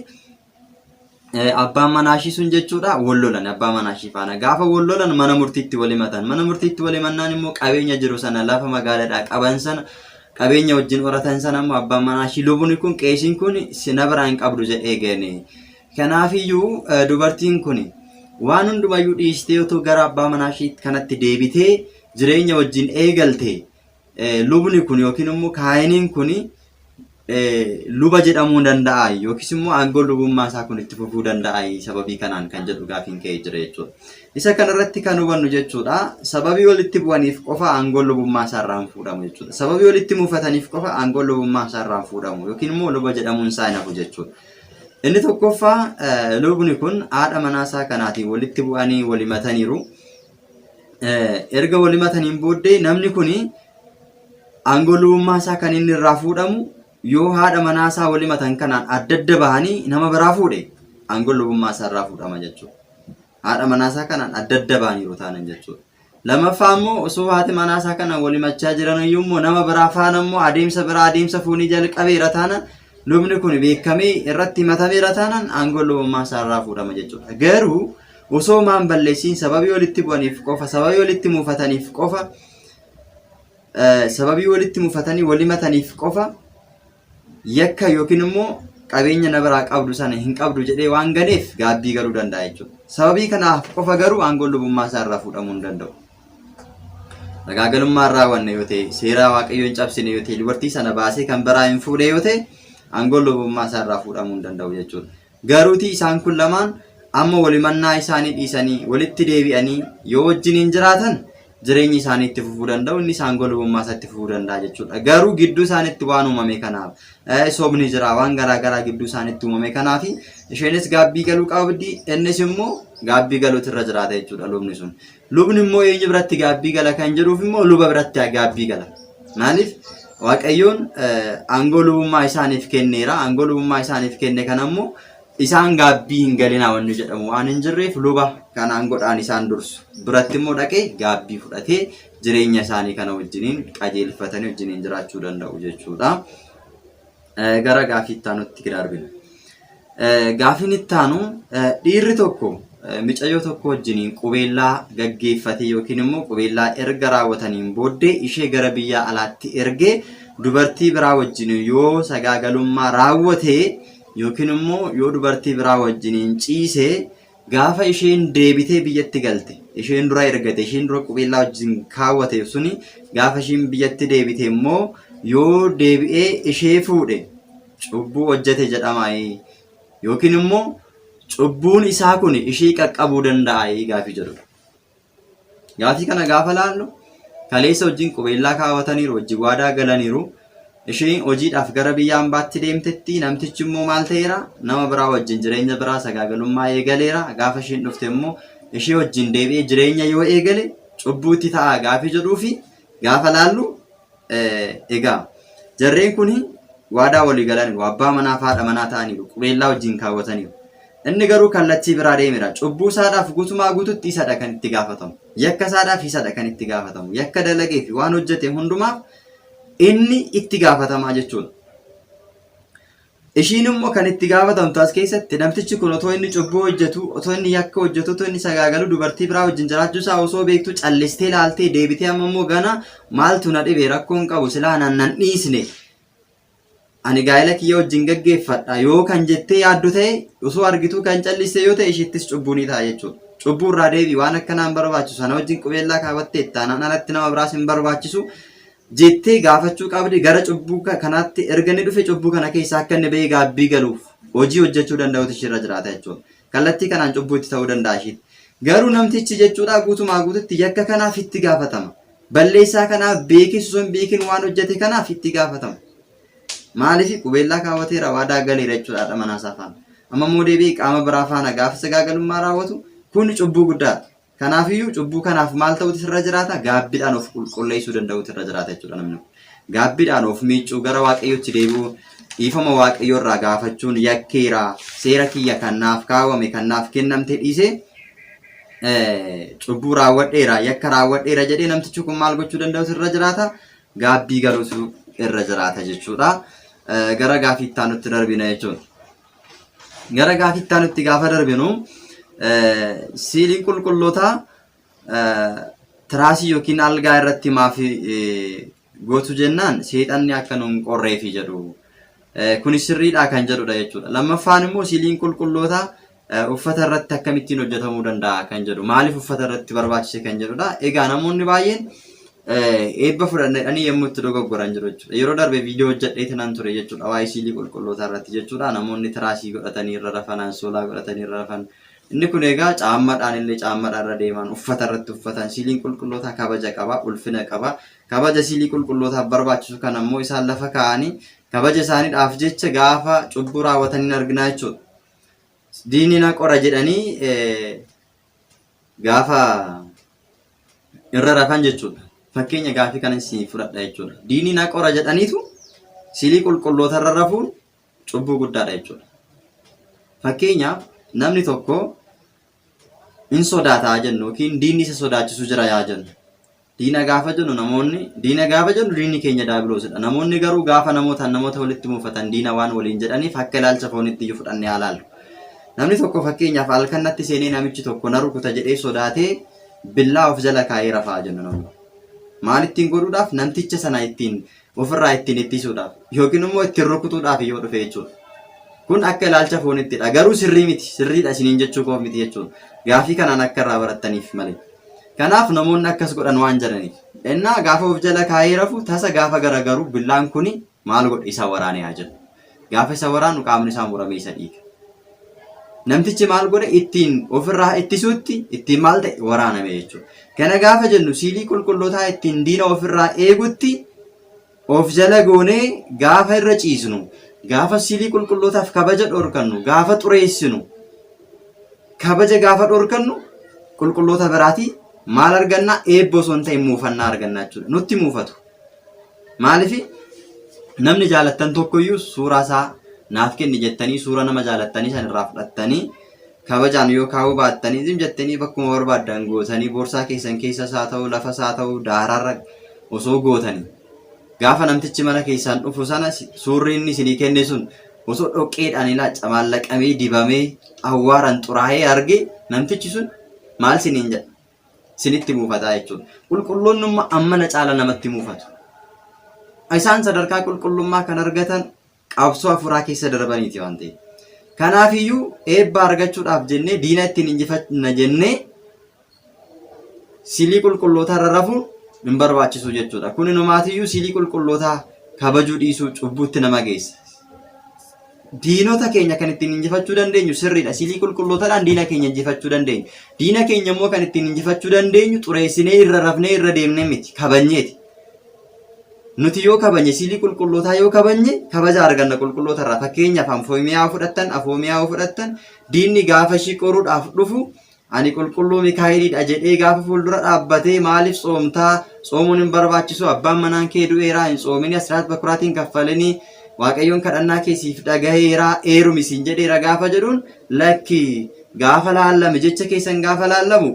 abbaan manaa ishii sun jechuudha wal lolan abbaa manaa ishii faana gaafa wal lolan mana murtiitti wal himatan mana murtiitti wal himannaan immoo qabeenya jiru sana lafa magaaladhaa qaban sana qabeenya wajjin horatan sana immoo abbaan manaa ishii lubuni kun qeesiin kun sina biraa hin qabdu jedhee gane kanaafiyyuu dubartiin kun waan hundumayyuu dhiistee otoo gara abbaa manaa ishii kanatti deebitee jireenya wajjin eegalte lubni kun yookiin immoo kaayiniin kun luba jedhamuu danda'a yookiis immoo aangoo lubummaa isaa kun itti fufuu danda'a sababii kanaan kan jedhu gaafiin ka'ee jira jechuudha. Isa kanarratti kan hubannu jechuudha sababii walitti bu'aniif qofa aangoo lubummaa isaa irraa hin fuudhamu jechuudha. Sababii walitti mufataniif qofa aangoo lubummaa isaa irraa hin fuudhamu yookiin immoo luba jedhamuun isaa hin hafu jechuudha. Inni tokkoffaa lubni kun haadha manaa isaa kanaatiin walitti bu'anii walimataniiru. erga wal himataniin booddee namni kun aangoo lubummaa isaa kan inni irraa fuudhamu yoo haadha manaa isaa wal himatan kanaan adda adda bahanii nama biraa fuudhe aangoo lubummaa isaa irraa fuudhama jechuudha. Haadha manaa isaa kanaan adda adda bahaniiru taanan jechuudha. Lammaffaa immoo osoo haati manaa isaa kanaan wal himachaa jiran iyyuu immoo nama biraa faana immoo adeemsa biraa adeemsa foonii jalqabeera taanan lubni kun beekamee irratti himatameera taanan aangoo lubummaa isaa irraa fuudhama jechuudha. Garuu osoo maa hin balleessiin sababii walitti bu'aniif qofa sababii walitti muufataniif qofa eh, sababii walitti muufatanii wal himataniif qofa yakka yookiin immoo qabeenya na biraa qabdu sana hin qabdu jedhee waan galeef gaabbii galuu danda'a jechuudha. Sababii kanaaf qofa garuu aangoon lubummaa isaa irraa fuudhamuu hin danda'u. Sagaagalummaa irraa wanne yoo ta'e, seeraa waaqayyoo hin cabsine yoo ta'e, dubartii sana baasee kan biraa hin fuudhe yoo ta'e, aangoon lubummaa isaa irraa fuudhamuu hin danda'u jechuudha. Garuutii isaan kun lamaan amma walimannaa isaanii dhiisanii walitti deebi'anii yoo wajjiniin jiraatan jireenyi isaanii itti fufuu danda'u inni isaan golubummaa isaa itti fufuu danda'a jechuudha. Garuu gidduu isaaniitti waan uumame kanaaf eh, sobni jira waan garaa garaa gidduu isaaniitti uumame kanaaf isheenis gaabbii galuu qabdi innis immoo gaabbii galuutu irra jiraata jechuudha lubni sun. Lubni immoo eenyu biratti gaabbii gala kan jedhuuf immoo luba biratti gaabbii gala. Maaliif? Waaqayyoon aangoo lubummaa isaaniif kenneera. Aangoo lubummaa isaaniif kenne kana immoo isaan gaabbii hin galinaa wanni jedhamu waan hin jirreef luba kan aangoodhaan isaan dursu. Biratti immoo dhaqee gaabbii fudhatee jireenya isaanii kana wajjiniin qajeelfatanii wajjiniin jiraachuu danda'u jechuudha. Gara gaafii itti aanutti gira darbina. Gaafiin itti aanu dhiirri tokko micayyoo tokko wajjiniin qubeellaa gaggeeffatee yookiin immoo qubeellaa erga raawwataniin booddee ishee gara biyyaa alaatti ergee dubartii biraa wajjiniin yoo sagaagalummaa raawwatee yookiin immoo yoo dubartii biraa wajjiniin ciisee Gaafa isheen deebitee biyyatti galte isheen dura ergate isheen dura qubeellaa wajjin kaawwateef suni gaafa isheen biyyatti deebite immoo yoo deebi'ee ishee fuudhe cubbuu hojjete jedhamaayii yookiin immoo cubbuun isaa kun ishee qaqqabuu danda'aayii gaafii jedhudha. Gaafii kana gaafa laallu kaleessa wajjin qubeellaa kaawwataniiru, wajji waadaa galaniiru. Isheen hojiidhaaf gara biyya ambaatti deemtetti, namtichi immoo maal ta'eera? Nama biraa wajjin jireenya biraa sagaagalummaa eegaleera. Gaafa isheen dhufte immoo ishee wajjin deebi'ee jireenya yoo eegale cubbuutti ta'a gaafii jedhuufi gaafa laallu Egaa jarreen kun waadaa walii galaniiru. Abbaa manaa fi haadha manaa ta'aniiru. Qubeellaa wajjin kaawwataniiru. Inni garuu kallattii biraa deemera. Cubbuu isaadhaaf gutumaa gututti isadha kan itti gaafatamu. Yakka isaadhaaf isadha kan itti gaafatamu. Yakka dalagee fi waan hojjete hundumaaf inni itti gaafatamaa jechuudha. Ishiin immoo kan itti gaafatamtu as keessatti namtichi kun otoo inni cubbuu hojjetu, otoo inni yakka hojjetu, otoo inni sagaagalu dubartii biraa wajjin jiraachuu isaa osoo beektu callistee laaltee deebitee amma immoo gana maaltu na dhibe rakkoon qabu silaa nan nan dhiisne. Ani gaa'ela kiyya wajjin gaggeeffadha yoo kan jettee yaaddu ta'e osoo argituu kan calliste yoo ta'e ishiittis cubbuu ni ta'a jechuudha. Cubbuu irraa deebii waan akkanaa hin barbaachisu sana wajjin qubeellaa kaawwattee ittaanaan alatti nama biraas hin barbaachisu. jettee gaafachuu qabdi, gara cubbuu kanaatti erga inni dhufe cubbuu kana keessaa akka inni ba'ee gaabbii galuuf hojii hojjechuu danda'utu ishiirra jiraata jechuudha. Kallattii kanaan cubbuu itti ta'uu danda'a ishiitti. Garuu namtichi jechuudha guutumaa guututti yakka kanaaf itti gaafatama. Balleessaa kanaaf beekis osoo hin beekin waan hojjete kanaaf itti gaafatama. Maaliif qubeellaa kaawwateera waadaa galeera jechuudha haadha manaa isaa faana. Amma immoo deebi'ee qaama biraa faana gaafa sagaagalummaa raawwatu kun cubbuu guddaadha. Kanaafiyyuu cubbuu kanaaf maal ta'uutu irra jiraata? Gaabbiidhaan of qulqulleessuu danda'uutu irra jiraata jechuudha namni kun. Gaabbiidhaan of miiccuu gara waaqayyootti deebi'uu dhiifama waaqayyoo irraa gaafachuun yakkeera seera kiyya kan naaf kaawwame kan naaf kennamte dhiisee eh, cubbuu raawwadheera yakka raawwadheera jedhee namtichi kun maal gochuu danda'uutu irra jiraata? Gaabbii galuutu irra jiraata jechuudha. Eh, Gara gaaffii itti aanutti darbina jechuudha. Gara gaafii itti aanutti gaafa darbinu siiliin qulqullootaa tiraasii yookiin algaa irratti maaf gootu jennaan seexanni akka nu hin qorreefi jedhu. Kunis sirriidhaa kan jedhudha jechuudha. Lammaffaan immoo siiliin qulqullootaa uffata irratti akkamittiin hojjetamuu danda'a kan jedhu. Maaliif uffata irratti barbaachise kan jedhudha. Egaa namoonni baay'een Eebba fudhanna jedhanii yommuu itti dogoggoran jiru jechuudha. Yeroo darbe viidiyoo hojjedhee tanan ture jechuudha. Waa'ee siilii qulqullootaa irratti jechuudha. Namoonni tiraasii godhatanii irra rafan, ansoolaa godhatanii irra rafan. Inni kun egaa caammadhaan illee caammadhaan irra deeman, uffata irratti uffatan. Siiliin qulqullootaa kabaja qaba, ulfina qaba. Kabaja siilii qulqullootaaf barbaachisu kana immoo isaan lafa kaa'anii kabaja isaaniidhaaf jecha gaafa cubbuu raawwatan hin arginaa jechuudha. Diinni na qora jedhanii gaafa irra rafan jechuudha. Fakkeenya gaafii kana isin fudhadha jechuudha. Diinii na qora jedhaniitu silii qulqulloota irra rafuun cubbuu guddaadha jechuudha. Fakkeenyaaf namni tokko in sodaataa jennu yookiin diinni isa sodaachisu jira yaa jennu. Diina gaafa jennu namoonni diina gaafa jennu diinni keenya daabiroosidha. Namoonni garuu gaafa namootaan namoota walitti muufatan diina waan waliin jedhaniif akka ilaalcha foonitti iyyuu fudhanne haa laallu. Namni tokko fakkeenyaaf halkan natti seenee namichi tokko na rukuta jedhee sodaatee billaa of jala kaa'ee rafaa jennu namni. Maal ittiin godhuudhaaf namticha sana ittiin ofirraa ittiin ittisuudhaaf yookiin immoo ittiin rukutuudhaaf yoo dhufe jechuudha. Kun akka ilaalcha foonittidha. Garuu sirrii miti. Sirriidha isiniin jechuu koo miti jechuudha. Gaafii kanaan akka irraa barattaniif malee. Kanaaf namoonni akkas godhan waan jedhaniif. Ennaa gaafa of jala kaa'ee rafu tasa gaafa garagaru billaan kuni maal godhe isa waraanee haa jedhu. Gaafa isa waraanu qaamni isaa muramee isa dhiiga. Namtichi maal godhe ittiin ofirraa ittisuutti ittiin maal ta'e waraaname jechuudha. Kana gaafa jennu siilii qulqullootaa ittiin diina ofirraa eegutti of jala goonee gaafa irra ciisnu, gaafa siilii qulqullootaaf kabaja dhorkannu, gaafa xureessinu, kabaja gaafa dhorkannu qulqulloota biraatii maal argannaa eebba osoo hin ta'in muufannaa argannaa jechuudha. Nutti muufatu. Maaliif namni jaalattan tokkoyyuu suuraa isaa naaf kenni jettanii suuraa nama jaalattanii san irraa fudhattanii kabajaan yoo kaa'uu baattanii zim jettanii bakkuma barbaaddan gootanii boorsaa keessan keessa isaa ta'uu lafa isaa ta'uu daaraarra osoo gootanii gaafa namtichi mana keessaan dhufu sana suurri inni isinii kenne sun osoo dhoqqeedhaan ilaa camaallaqamee dibamee awwaaran xuraa'ee arge namtichi sun maal siniin jedha sinitti muufataa jechuudha. Qulqulloonnumma ammana caala namatti muufatu. Isaan sadarkaa qulqullummaa kan argatan qabsoo hafuuraa keessa darbaniiti waan ta'eef. Kanaafiyyuu eebba argachuudhaaf jennee diina ittiin injifanna jennee silii qulqullootaa irra rafuun hin barbaachisu jechuudha. Kun inumaatiyyuu silii qulqullootaa kabajuu dhiisuu cubbuutti nama geessa. diinota keenya kan ittiin injifachuu dandeenyu sirriidha. Siilii qulqullootadhaan diina keenya injifachuu dandeenyu. Diina keenya immoo kan ittiin injifachuu dandeenyu xureessinee irra rafnee irra deemnee miti kabajneeti. Nuti yoo kabanye siilii qulqullootaa yoo kabanye kabaja arganna qulqulloota irraa fakkeenyaaf afoomiyaa fudhattan afoomiyaa yoo fudhattan diinni gaafa ishii qoruudhaaf dhufu Ani qulqulluu Mikaa'elii dha jedhee gaafa fuuldura dhaabbatee maaliif tsoomtaa? Tsoomuun hin barbaachisu. Abbaan manaan kee du'eeraa hin tsoominii asiraat bakuraatiin kaffalinii Waaqayyoon kadhannaa kee siif dhagaheeraa eerumi siin jedheera gaafa jedhuun lakki gaafa laallame jecha keessan gaafa laallamu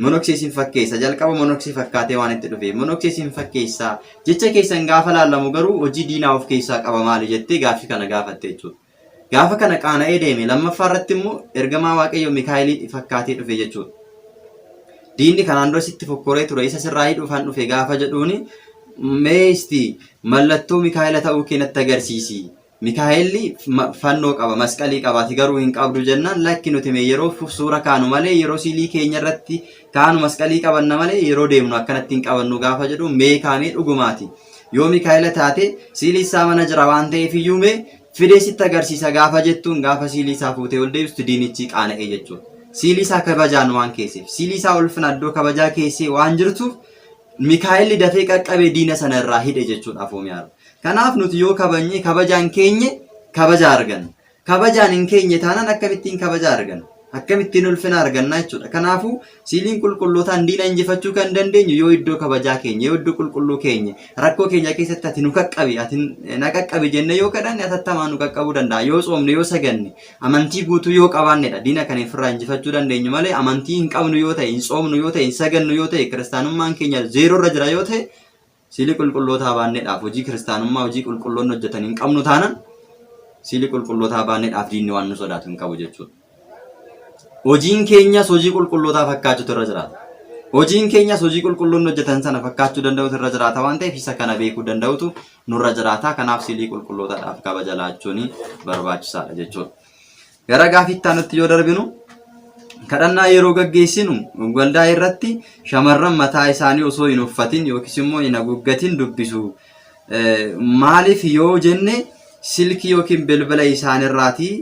monoksee siin fakkeessa jalqaba monoksee fakkaatee waan itti dhufe monoksee siin fakkeessa jecha keessan gaafa laallamu garuu hojii diinaa of keessaa qaba maali jettee gaaffii kana gaafatte jechuudha. Gaafa kana qaana'ee deeme, lammaffaa irratti immoo ergamaa Waaqayyoo Mikaa'eliin fakkaatee dhufe jechuudha. Diinni kanaan dura sitti fokkoree ture, isa sirraa hidhuufaan dhufe gaafa jedhuun mee isti mallattoo Mikaa'ela ta'uu kee natti agarsiisi. Mikaa'elli fannoo qaba, masqalii qabaati garuu hin qabdu jennaan lakki nuti mee yeroo suura kaanu malee yeroo siilii keenya irratti Kaanu masqalii qabanna malee yeroo deemnu akkanatti hin qabannu gaafa jedhu mee kaamee dhugumaati. Yoo Mikaa'ela taate siilii isaa mana jira waan ta'eef iyyuu mee fidee sitti agarsiisa gaafa jettuun gaafa siilii isaa fuutee ol deebistu diinichi qaana'ee jechuudha. Siilii isaa kabajaan waan keesseef siilii isaa ulfina iddoo kabajaa keessee waan jirtuuf Mikaa'elli dafee qaqqabee diina sana irraa hidhe jechuudha Afoomiyaarra. Kanaaf nuti yoo kabajne kabajaan keenye kabaja arganna. Kabajaan hin keenye taanaan akkamittiin kabajaa arganna? Akkamittiin ulfina arganna jechuudha. Kanaafuu siiliin qulqullootaan diina injifachuu kan dandeenyu yoo iddoo kabajaa keenya, yoo iddoo qulqulluu keenya, rakkoo keenya keessatti ati nu qaqqabi, ati na qaqqabi jennee yoo kadhanne atattamaan nu qaqqabuu danda'a. Yoo tsoomne, yoo saganne, amantii guutuu yoo qabaannedha. Diina kan ofirraa injifachuu dandeenyu malee amantii hin qabnu yoo ta'e, hin tsoomnu yoo ta'e, hin sagannu yoo ta'e, kiristaanummaan keenya zeeroo irra jira yoo ta'e Siilii qulqullootaa baannedhaaf hojii kiristaanummaa hojii qulqulloonni hojjetan hin qabnu taanan siilii qulqullootaa baannedhaaf diinni waan nu sodaatu hin qabu jechuudha. Hojiin keenyas hojii qulqullootaa fakkaachuutu irra jiraata. Hojiin keenyas hojii qulqulloonni hojjetan sana fakkaachuu danda'utu irra jiraata waan ta'eef isa kana beekuu danda'utu nurra jiraata. Kanaaf siilii qulqullootaadhaaf kabaja laachuun barbaachisaadha jechuudha. Gara gaafii itti aanutti yoo darbinu kadhannaa yeroo gaggeessinu waldaa irratti shamarran mataa isaanii osoo hin uffatin yookiis immoo hin haguuggatin dubbisu. Eh, Maaliif yoo jenne silkii yookiin bilbila isaanirraatii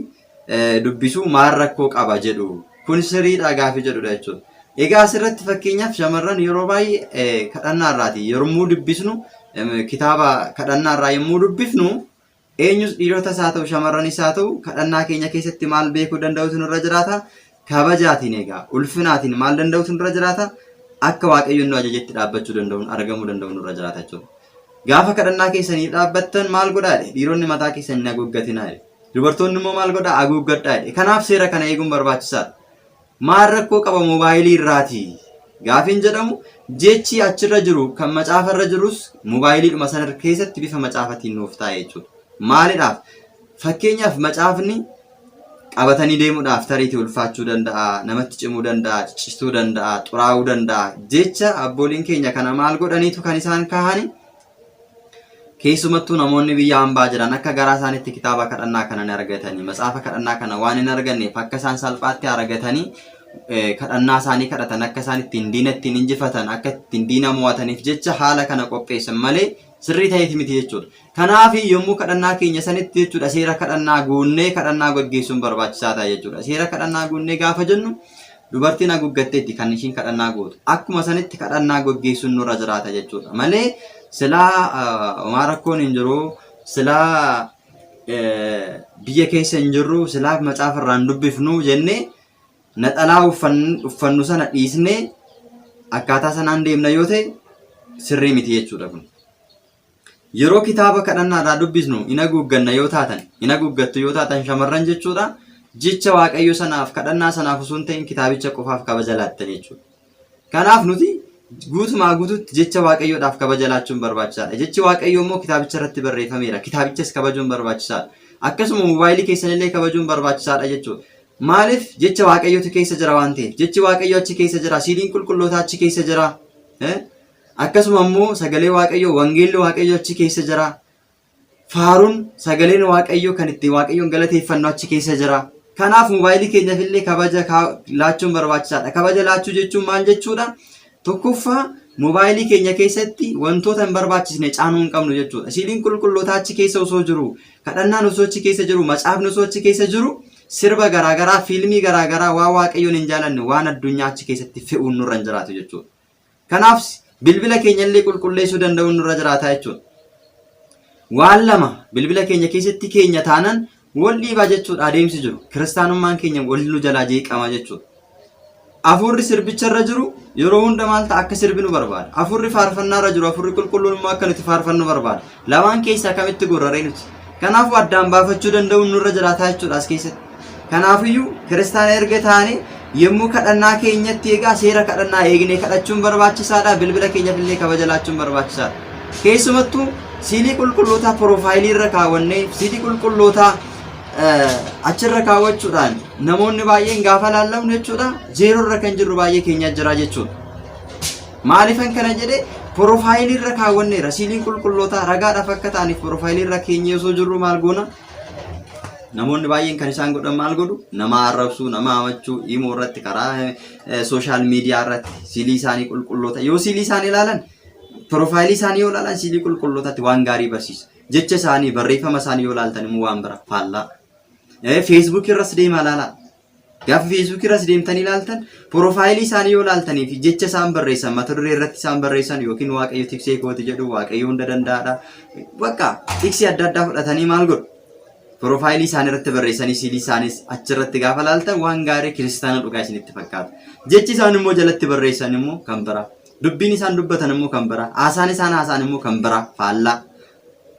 eh, dubbisu maal rakkoo qaba jedhu. Kun siriidhaa gaafii jedhudha jechuudha. Egaa asirratti fakkeenyaaf shamarran yeroo baay'ee eh, kadhannaa irraati. Yommuu dubbisnu em, kitaaba kadhannaa irraa yommuu dubbifnu Eenyus dhiirotas haa ta'u shamarranis haa ta'u kadhannaa keenya keessatti maal beekuu danda'utu nurra jiraata? Kabajaatiin egaa ulfinaatiin maal danda'utu nurra jiraata? Akka Waaqayyoon nu ajajetti dhaabbachuu danda'uun argamuu danda'u nurra jiraata jechuudha. Gaafa kadhannaa keessanii dhaabbattan maal godhaa jedhe? Dhiironni mataa keessan hin haguuggatinaa jedhe. Dubartoonni immoo maal godhaa? Haguuggadhaa jedhe. Kanaaf seera kana eeguun barbaachisaadha. Maal rakkoo qaba mobaayilii irraati? Gaafiin jedhamu jechi achirra jiru kan macaafa irra jirus mobaayiliidhuma sana keessatti bifa macaafatiin nuuf taa'e jechuudha. Maalidhaaf? Fakkeenyaaf macaafni qabatanii deemuudhaaf tariitii ulfaachuu danda'a, namatti cimuu danda'a, cichistuu danda'a, xuraa'uu danda'a. Jecha abbooliin keenya kana maal godhaniitu kan isaan kaahani? Keessumattuu namoonni biyya hambaa jiran akka garaa isaanitti kitaaba kadhannaa kana hin argatanii matsaafa kadhannaa kana waan hin arganneef akka isaan salphaatti argatanii kadhannaa isaanii kadhatan akka isaan ittiin diina ittiin injifatan akka ittiin diina mo'ataniif jecha haala kana qopheessan malee sirrii ta'eeti miti jechuudha. Kanaaf yommuu kadhannaa keenya sanitti jechuudha seera kadhannaa guunnee kadhannaa gaggeessuun barbaachisaa ta'a jechuudha. Seera kadhannaa guunnee gaafa jennu Dubartiin haguuggatteetti kan ishiin kadhannaa gootu. Akkuma sanitti kadhannaa gaggeessuun nurra jiraata jechuudha. Malee silaa homaa rakkoon hin jiru, silaa biyya keessa hin jirru, silaa macaafa irraan dubbifnu jennee naxalaa uffannu sana dhiisnee akkaataa sanaan deemna yoo ta'e sirrii miti jechuudha kun. Yeroo kitaaba kadhannaadhaa dubbisnu hin haguugganna yoo taatan, hin haguuggattu yoo taatan shamarran jechuudha. Jecha Waaqayyo sanaaf, kadhannaa sanaaf osoo hin ta'in kitaabicha qofaaf kabaja laattan jechuudha. Kanaaf nuti guutumaa guututti jecha Waaqayyoodhaaf kabaja laachuun barbaachisaadha. Jechi Waaqayyoo immoo kitaabicha irratti barreeffameera. Kitaabichas kabajuun barbaachisaadha. Akkasuma moobaayilii keessanillee kabajuun barbaachisaadha jechuudha. Maaliif jecha Waaqayyootu keessa jira waan ta'eef. Jechi Waaqayyoo achi keessa jira. Siidiin qulqullootaa achi keessa jira. Akkasuma immoo sagalee Waaqayyoo, wangeelli Waaqayyoo achi keessa jira. Faaruun sagaleen Waaqayyoo kan ittiin Waaqayyoon galateeffannu achi keessa jira. Kanaaf moobaayilii keenyaaf illee kabaja kaa- laachuun barbaachisaadha. Kabaja laachuu jechuun maal jechuudha? Tokkoffaa moobaayilii keenya keessatti wantoota hin barbaachisne caanuu hin qabnu jechuudha. Siiliin qulqullootaa achi keessa osoo jiru, kadhannaan osoo achi keessa jiru, macaafni osoo achi keessa jiru, sirba garaagaraa, fiilmii garaagaraa waan Waaqayyoon hin jaalanne, waan addunyaa achi keessatti fe'uun nurra hin jiraatu jechuudha. Kanaafs bilbila keenyallee qulqulleessuu danda'uun nurra jiraataa jechuudha. Waan lama bilbila keenya keessatti keenya taanan wal dhiibaa jechuudha adeemsi jiru. Kiristaanummaan keenya wal nu jalaa jeeqama jechuudha. Afuurri sirbicha irra jiru yeroo hunda maal ta'a akka sirbinu barbaada. Afuurri faarfannaa irra jiru afuurri qulqulluun immoo akka nuti faarfannu barbaada. Lamaan keessaa kamitti gorra ree nuti? Kanaafuu addaan baafachuu danda'uun nurra jiraataa jechuudha as keessatti. Kanaafiyyuu kiristaana erga taane yommuu kadhannaa keenyatti egaa seera kadhannaa eegnee kadhachuun barbaachisaadha. Bilbila keenyaaf illee kabaja laachuun barbaachisaadha. Keessumattuu siilii qulqullootaa piroofaayilii irra kaawwannee siilii qulqullootaa eh, achirra kaawwachuudhaan namoonni baay'een gaafa laallamnu jechuudha zeeroo irra kan jirru baay'ee keenyaa jira jechuudha. Maalifan kana jedhe porofaayilii irra kaawwanneera. Siiliin qulqullootaa ragaadhaaf akka ta'aniif porofaayilii irra keenyee osoo jirru maal goona? Namoonni baay'een kan isaan godhan maal godhu? Nama arrabsuu, nama hamachuu, imoo irratti karaa sooshaal miidiyaa irratti siilii isaanii qulqulloota. Yoo siilii isaanii ilaalan, porofaayilii isaanii yoo ilaalan siilii qulqullootaatti waan gaarii barsiisa. Jecha isaanii, barreeffama isaanii yoo ilaaltan immoo waan bira faallaa. Feesbuukii irras deemaa ilaalaa. Gaafa feesbuukii irras deemtanii ilaaltan porofaayilii isaanii yoo ilaaltanii fi jecha isaan barreessan mata duree irratti isaan barreessan yookiin waaqayyo tiksee kooti jedhu waaqayyo hunda danda'aadha. Bakka tiksii adda addaa fudhatanii maal godhu? Porofaayilii isaanii irratti barreessanii siilii isaanis achirratti gaafa ilaaltan waan gaarii kiristaana dhugaa isinitti fakkaata. Jechi isaan immoo jalatti barreessan immoo kan biraa. Dubbiin isaan dubbatan immoo kan biraa. Haasaan isaan haasaan immoo kan biraa faallaa.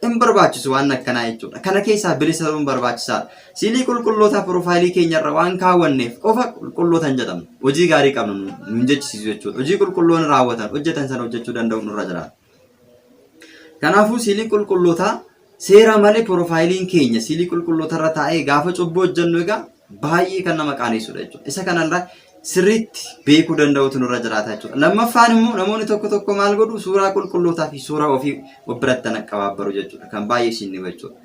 hin barbaachisu waan akkanaa jechuudha. Kana keessaa bilisa ta'uun barbaachisaadha. Siilii qulqullootaa piroofaayilii keenyarra waan kaawwanneef qofa qulqulloota hin jedhamnu. Hojii gaarii qabnu nu hin jechisiisu jechuudha. Hojii qulqulloonni raawwatan hojjetan sana hojjechuu danda'u nurra jiraata. Kanaafuu siilii qulqullootaa seera malee piroofaayiliin keenya siilii qulqullootarra taa'ee gaafa cubbuu hojjennu egaa baay'ee kan nama qaanessudha jechuudha. Isa kanarraa sirriitti beekuu danda'utu nurra jiraata jechuudha. Lammaffaan immoo namoonni tokko tokko maal godhu suuraa qulqullootaa fi suuraa ofii of biratti kan qabaabbaru jechuudha. Kan baay'ee isin dhiba jechuudha.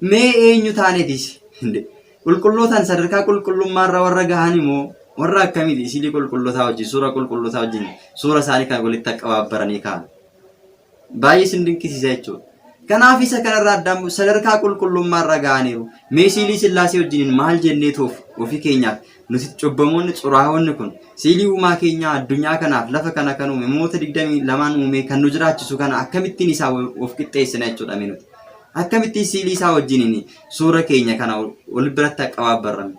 Mee eenyu taanetis qulqullootaan sadarkaa qulqullummaarra warra gahan immoo warra akkamiiti isilii qulqullootaa wajjin suuraa qulqullootaa wajjin suura isaanii kan walitti qabaabbaranii kaa'an. Baay'ee isin dinqisiisa jechuudha. Kanaaf isa kanarraa addaan bu'u sadarkaa qulqullummaarra ga'aniiru. Mee siilii sillaasee wajjiniin maal jennee toof ofii keenyaaf nuti cubbamoonni xuraahoonni kun siilii uumaa keenyaa addunyaa kanaaf lafa kana kan uume moota 22 uumee kan nu jiraachisu kana akkamittiin isaa of qixxeessina jechuudha mee nuti. Akkamittiin siilii isaa wajjiniin suura keenya kana ol biratti qabaabbarrame.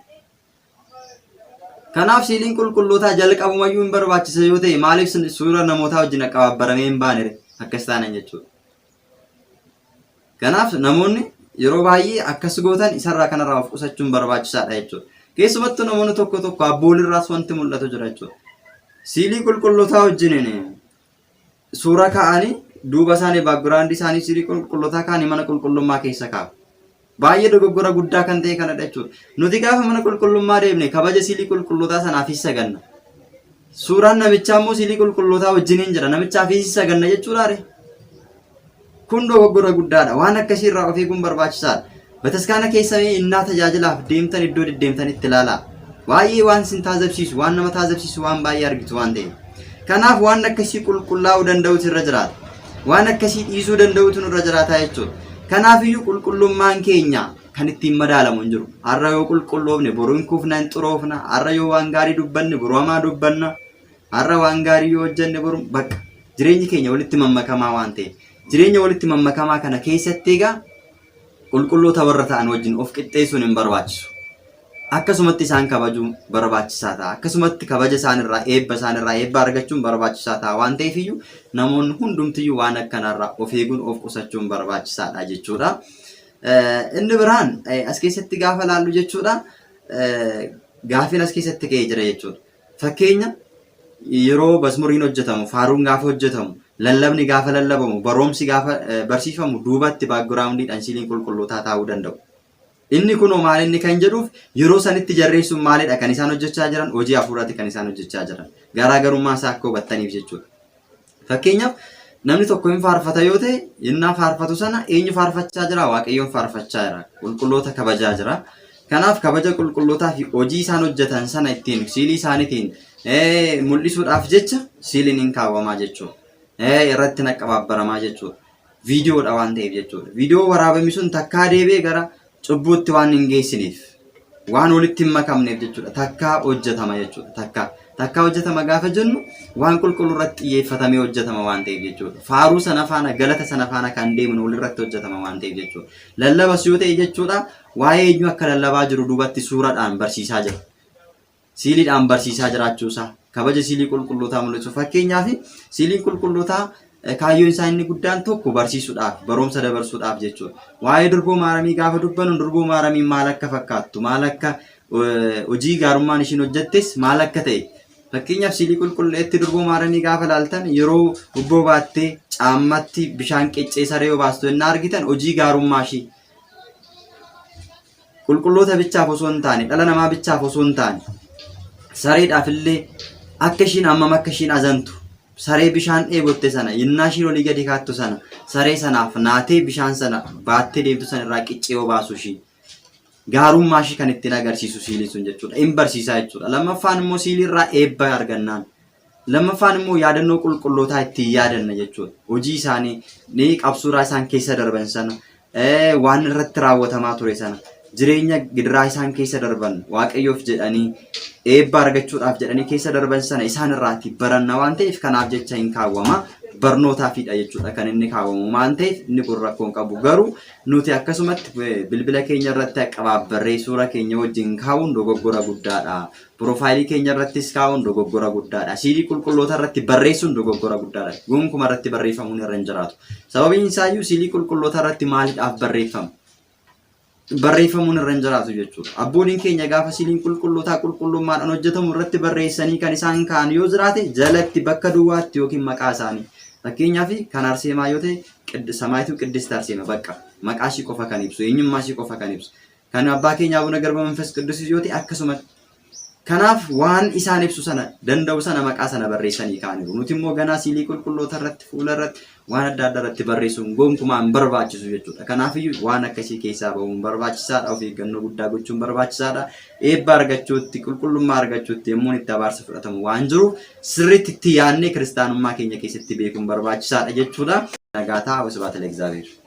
Kanaaf siiliin qulqullootaa jalqabumayyuu hin barbaachisa yoo ta'e maaliif suura namootaa wajjin qabaabbaramee hin baanere akkas taanan jechuudha. Kanaaf namoonni yeroo baay'ee akkas gootan isarraa kanarraa of qusachuun barbaachisaadha jechuudha. Keessumattuu namoonni tokko tokko abboolirraas wanti mul'atu jira jechuudha. Siilii qulqullootaa wajjiniin Suura kaa'anii duuba isaanii background isaanii sirii qulqullotaa kaanii mana qulqullummaa keessa kaa'u. Baay'ee dogoggora guddaa kan ta'e kanadha jechuudha. Nuti gaafa mana qulqullummaa deemne kabaja siilii qulqullotaa sanaaf hin saganna. Suuraan namichaa immoo siilii qulqullotaa wajjiniin jira. Namichaaf hin saganna jechuudha ree? Kun dogoggora guddaadha. Waan akkasii irraa of eeguun barbaachisaadha. Bataskaana keessa mee innaa tajaajilaaf deemtan iddoo deddeemtan itti ilaalaa. Baay'ee waan isin taazabsiisu, waan nama taazabsiisu waan baay'ee argitu waan ta'eef. Kanaaf waan akkasii qulqullaa'uu danda'utu irra jiraata. Waan akkasii dhiisuu danda'utu nurra jiraata jechuudha. Kanaafiyyuu qulqullummaan keenya kan ittiin madaalamu hin jiru. Har'a yoo qulqulloofne boru hin kufna, hin xuroofna. Har'a yoo waan gaarii dubbanne boru hamaa dubbanna. Har'a waan gaarii yoo hojjenne boru bakka jireenyi keenya walitti mammakamaa waan ta'e jireenya walitti mammakamaa kana keessatti egaa qulqulloota warra ta'an wajjin of qixxeessuun hin barbaachisu. Akkasumatti isaan kabajuun barbaachisaa ta'a. Akkasumatti kabaja isaanirraa eebba isaanirraa eebba argachuun barbaachisaa ta'a waan ta'eef iyyuu namoonni hundumtiyyuu waan akkanaarraa of eeguun of qusachuun barbaachisaadha jechuudha. Inni biraan as keessatti gaafa laallu jechuudha gaafiin as keessatti ka'ee jira jechuudha. Fakkeenya, yeroo mazmuriin hojjetamu, faaruun gaafa hojjetamu, lallabni gaafa lallabamu, baroomsi gaafa barsiifamu duubatti baakgiraawundiidhaan siiliin qulqullootaa taa'uu danda'u. Inni kunoo maal inni kan jedhuuf yeroo sanitti jarreen sun maalidha kan isaan hojjechaa jiran hojii hafuuraati kan isaan hojjechaa jiran. Garaagarummaa isaa akka hubattaniif jechuudha. Fakkeenyaaf namni tokko hin faarfata yoo ta'e innaa faarfatu sana eenyu faarfachaa jira? Waaqayyoon faarfachaa jira. Qulqulloota kabajaa jira. Kanaaf kabaja qulqullootaa fi hojii isaan hojjetan sana ittiin siilii isaaniitiin mul'isuudhaaf jecha siiliin hin kaawwamaa jechuudha. Irratti naqqabaabbaramaa jechuudha. viidiyoodha waan ta'eef jechuudha. Viidiyoo waraabame sun takkaa deebi'ee gara cubbuutti waan hin geessiniif waan walitti hin makamneef jechuudha. Takkaa hojjetama jechuudha. Takkaa takkaa hojjetama gaafa jennu waan qulqulluu irratti xiyyeeffatamee hojjetama waan ta'eef jechuudha. Faaruu sana faana galata sana faana kan deemnu walirratti hojjetama waan ta'eef jechuudha. Lallabas yoo ta'e jechuudha waa'ee eenyu akka lallabaa jiru duubatti suuraadhaan barsiisaa jira. siiliidhaan barsiisaa jiraachuusaa kabaja siilii qulqullootaa mul'isu. Fakkeenyaaf siiliin qulqullootaa eh, kaayyoon isaa inni guddaan tokko barsiisuudhaaf barumsa dabarsuudhaaf jechuudha. Waa'ee durboo maaramii gaafa dubbannu durboo maaramiin maal akka fakkaattu maal akka eh, hojii gaarummaan ishiin hojjettes maal akka ta'e fakkeenyaaf siilii qulqulleetti durboo maaramii gaafa laaltan yeroo ubboo baattee caammatti bishaan qeccee saree yoo baastu yennaa argitan hojii gaarummaa ishii qulqulloota bichaaf osoo hin taane dhala namaa bichaaf osoo hin taane sareedhaaf illee akka ishiin ammam akka ishiin azantu saree bishaan dheebotte sana yennaa ishiin olii gadi kaattu sana saree sanaaf naatee bishaan sana baattee deemtu sana irraa qiccee obaasu ishii gaarummaa ishii kan ittiin agarsiisu siilii sun jechuudha in barsiisaa jechuudha lammaffaan immoo siilii irraa eebba argannaan Lammaffaan immoo yaadannoo qulqullootaa ittiin yaadanna jechuudha. Hojii isaanii ni qabsuuraa isaan keessa darban sana waan irratti raawwatamaa ture sana jireenya gidiraa isaan keessa darban waaqayyoof jedhanii eebba argachuudhaaf jedhanii keessa darban sana isaan irraati baranna waan ta'eef kanaaf jecha hin kaawwama. barnootaafidha jechuudha kan inni kaawwamu waan ta'eef inni kun rakkoo hin qabu garuu nuti akkasumatti bilbila keenya irratti qabaabbarree suura keenya wajjin kaa'uun dogoggora guddaadha Piroofaayilii keenya irrattis kaa'uun dogoggora guddaadha. Siilii qulqulloota irratti barreessuun dogoggora guddaadha. Gonkuma irratti barreeffamuun irra hin jiraatu. Sababiin isaayyuu siilii qulqulloota irratti maalidhaaf barreeffama? Barreeffamuun irra hin jiraatu jechuudha. Abbooliin keenya gaafa siiliin qulqullootaa qulqullummaadhaan hojjetamu irratti barreessanii kan isaan kaa'an yoo jiraate jalatti bakka duwwaatti yookiin maqaa isaanii. Fakkeenyaaf kan Arseemaa yoo ta'e Samaayituu Qiddist Arseema bakka maqaa ishii qofa kan ibsu eenyummaa ishii qofa kan ibsu. Kan abbaa keenya abuna garba manfas qiddusis yoo ta'e akkasumatti. Kanaaf waan isaan ibsu sana danda'u sana maqaa sana barreessanii kaaniiru. Nuti immoo ganaa siilii qulqulloota irratti fuula irratti waan adda addaa irratti barreessuun gonkumaa hin barbaachisu jechuudha. Kanaafiyyuu waan akkasii keessaa bahuun barbaachisaadha. Of eeggannoo guddaa gochuun barbaachisaadha. Eebba argachuutti, qulqullummaa argachuutti yommuun itti abaarsa fudhatamu waan jiruuf sirriitti itti yaadnee kiristaanummaa keenya keessatti beekuun barbaachisaadha jechuudha. Nagaataa Wasbaata Leegzaabeer.